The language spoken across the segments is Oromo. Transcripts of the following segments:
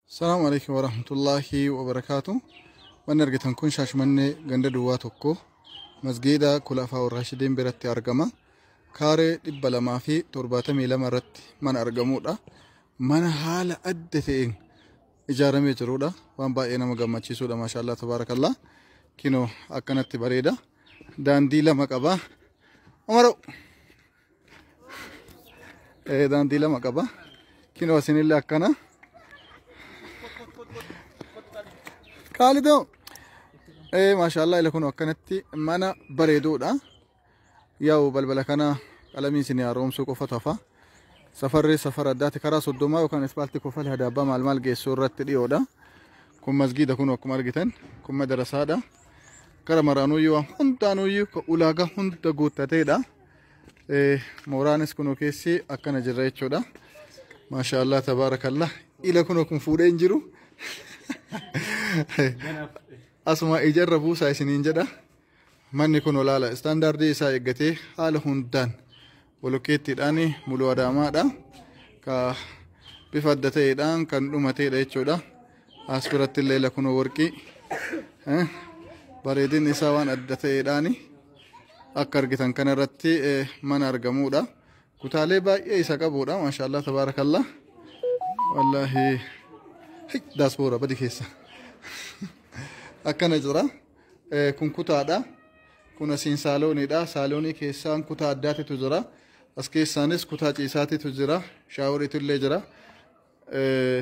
Salaamu alaikum wa rahmatullahi wa barakaatu. Manni argitan kun Shaashmannee ganda duwwaa tokko masgiida Kulafaa Warraashidiin biratti argama. Kaaree dhibba lamaa fi torbaatamii lama irratti mana argamudha. Mana haala adda ta'een ijaaramee jirudha. Waan baay'ee nama gammachiisudha. Maashaallah tabaarakallah. Kinoo akkanatti bareeda. Daandii lama qaba. Umaroo! Eh, daandii lama qaba kinoo isinillee akkana qaalidoo eh, maashaallah ila kun akkanatti mana bareeduudha yaa'u balbala kana qalamii isin haaromsuu qofa tafa safarri safara addaati karaa soddomaa yookaan ispaaltii kofal hadaabbaa maal maal geessu irratti dhiyoodha kun masgiida kun akkuma argitan kun madarasaadha gara maraanuyyuu waan hundaanuyyuu ulaagaa hunda guuttateedha Mooraanis kunoo keessi akkana jirra jechuudha. Maashaallah tabaarakallah. Ila kunoo kun fuudhee hin jiru. Asuma ijarra buusaa isiniin jedha. Manni kun olaala istaandaardii isaa eeggatee haala hundaan bolokkeettiidhaan muluu adaamaadha. Ka bifa adda ta'eedhaan kan dhumateedha jechuudha. As biratti illee lakunoo warqii eh, bareedinni isaa waan adda ta'eedhaani akka argitan kana irratti eh, mana argamuudha. Kutaalee baay'ee isa qabuudha maashaallah tabaarakallah. Wallaahi hey, daasboora badi keessa akkana jira. Eh, Kun kutaadha. Kun asiin saalooniidha. Saaloonii keessaan kutaa addaatitu jira. As keessaanis kutaa ciisaatitu jira. Shaaworiitu illee jira. Eh,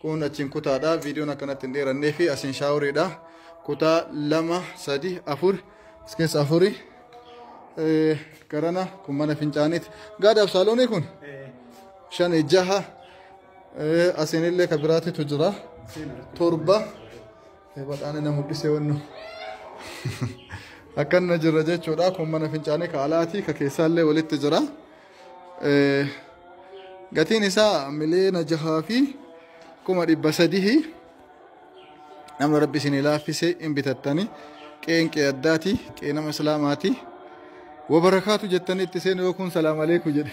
Kun achiin kutaadha. Viidiyoon akkanatti hin dheerannee fi asiin shaaworiidha. Kutaa lama, sadi, afur, as keessa afuri. Eh, Garana kun mana fincaaniiti. Gaadaaf saaloonii kun shan jaha. Eh, Asiin illee ka biraatitu jira. Torba. Eh, Badhaane na mul'isee wannu. Akkanna jirra jechuudha. Kun mana fincaanii ka alaati ka keessaallee walitti jira. gatiin isaa miliyoona jahaa fi kuma dhibba sadihi nama rabbi isin laaffise hin bitattani qeen qee addaati qee nama islaamaati wabarakaatu jettanii itti seenu yoo kun salaam aleeku jedhe